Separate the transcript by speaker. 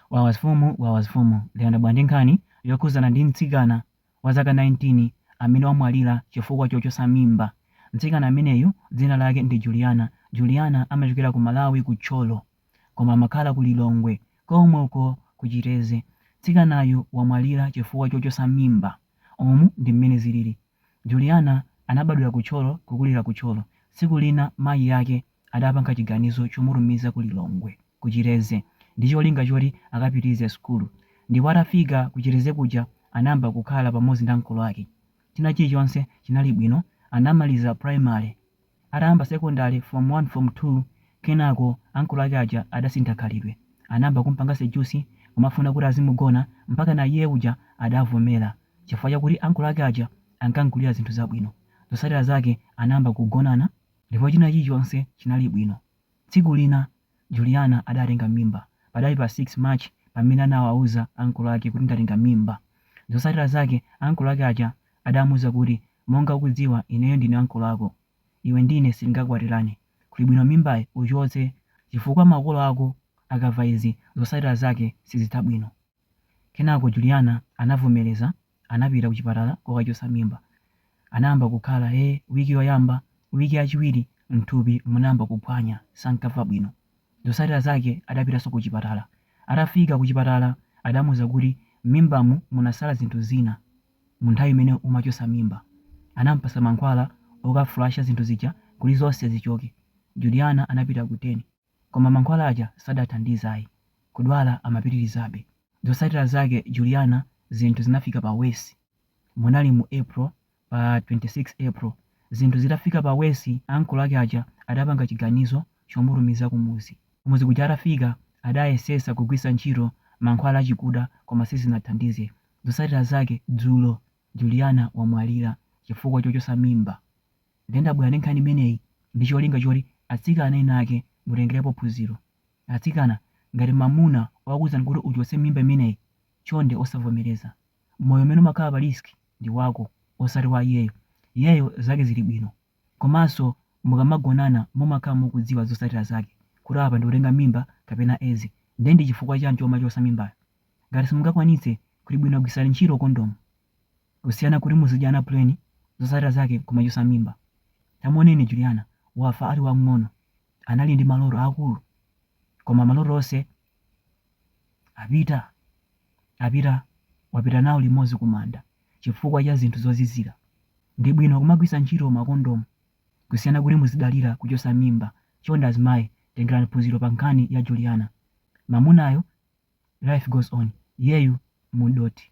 Speaker 1: Wawa mfumu, wawa mfumu, ndabwera ndi nkhani yokhuzana ndi mtsikana wa zaka 19 amene wamwalira chifukwa chochosa mimba. Mtsikana ameneyu dzina lake ndi Juliana. Juliana amachokera ku Malawi ku Thyolo koma amakhala ku Lilongwe komwe uko ku Chitedze. Mtsikanayu wamwalira chifukwa chochosa mimba. Umu ndi mmene zilili. Juliana anabadwira ku Thyolo kukulira ku Thyolo. Tsiku lina mayi ake adapanga chiganizo chomutumiza ku Lilongwe. ku Chitedze ndi cholinga choti akapitilize sukulu ndipo atafika ku Chitedze kuja anayamba kukhala pamodzi ndi ankolo ake china chilichonse chinali bwino anamaliza primary atayamba secondary form 1 form 2 kenako ankolo ake aja adasintha khalidwe anayamba kumpanga seduce kumafuna kuti azimugona mpakana iye uja adavomera chifukwa chakuti ankolo ake aja ankamgulira zinthu zabwino zotsatira zake anayamba kugonana ndipo china chilichonse chinali bwino Tsiku lina Juliana adatenga mimba. Padali pa 6 March pamene anawauza ankolo ake kuti ndatenga mimba. Zotsatira zake ankolo ake aja adamuuza kuti, Monga ukudziwa ineyo ndine ankolo ako. Iwe ndi ine sitingakwatirane. Kuli bwino mimbayi uchotse chifukwa makolo ako akamva izi zotsatira zake sizitha bwino. Kenako Juliana anavomereza, anapita kuchipatala kokachotsa mimba. Anayamba kukhala he wiki yoyamba, wiki yachiwiri m'thupi munayamba kuphwanya, sankamva bwino. Zotsatira zake adapitanso kuchipatala. Atafika kuchipatala adamuuza kuti m'mimbamu munasala zinthu zina munthawi imene umachotsa mimba. Anamupatsa mankhwala okafulasha zinthu zija kuti zonse zichoke. Juliana anapita ku den. Koma mankhwala aja sadathandize ayi, kudwala amapitirizabe. Zotsatira zake Juliana zinthu zinafika pa worse. Munali mu April, pa 26 April. Zinthu zitafika pa worse ankolo ake aja adapanga chiganizo chomutumiza kumudzi. Kumudzi kuja atafika adayesetsa kugwiritsa ntchito mankhwala achikuda koma sizinathandize. Zotsatira zake dzulo Juliana wamwalira chifukwa chochotsa mimba. Nde ndabwera ndi nkhani imeneyi ndi cholinga choti atsikana ena ake mutengerepo phunziro. Atsikana, ngati mamuna wakuuzani kuti uchotse mimba imeneyi, chonde osavomereza. Moyo umene umakhala pa risk ndi wako, osati wa iyeyo. Iyeyo zake zili bwino. Komanso mukamagonana mumakhala mukudziwa zotsatira zake, kuti apa ndikutenga mimba kapena Edzi. Nde ndi chifukwa chani chomachotsa mimbayo? Ngati simungakwanitse, kuli bwino gwiritsani ntchito kondomu. kusiyana kuti muzidyana plain zotsatira zake kumachotsa mimba. Tamuoneni Juliana wafa ali wang'ono anali ndi maloto aakulu koma maloto onse wapita nawo limodzi kumanda chifukwa cha zinthu zozizira. Ndi bwino kumagwitsa ntchito ma condom kusiyana kuti muzidalira kuchotsa mimba. Chonde azimayi tengerani phunziro pa nkhani ya Juliana. Mamunayo life goes on iyeyu mudothi.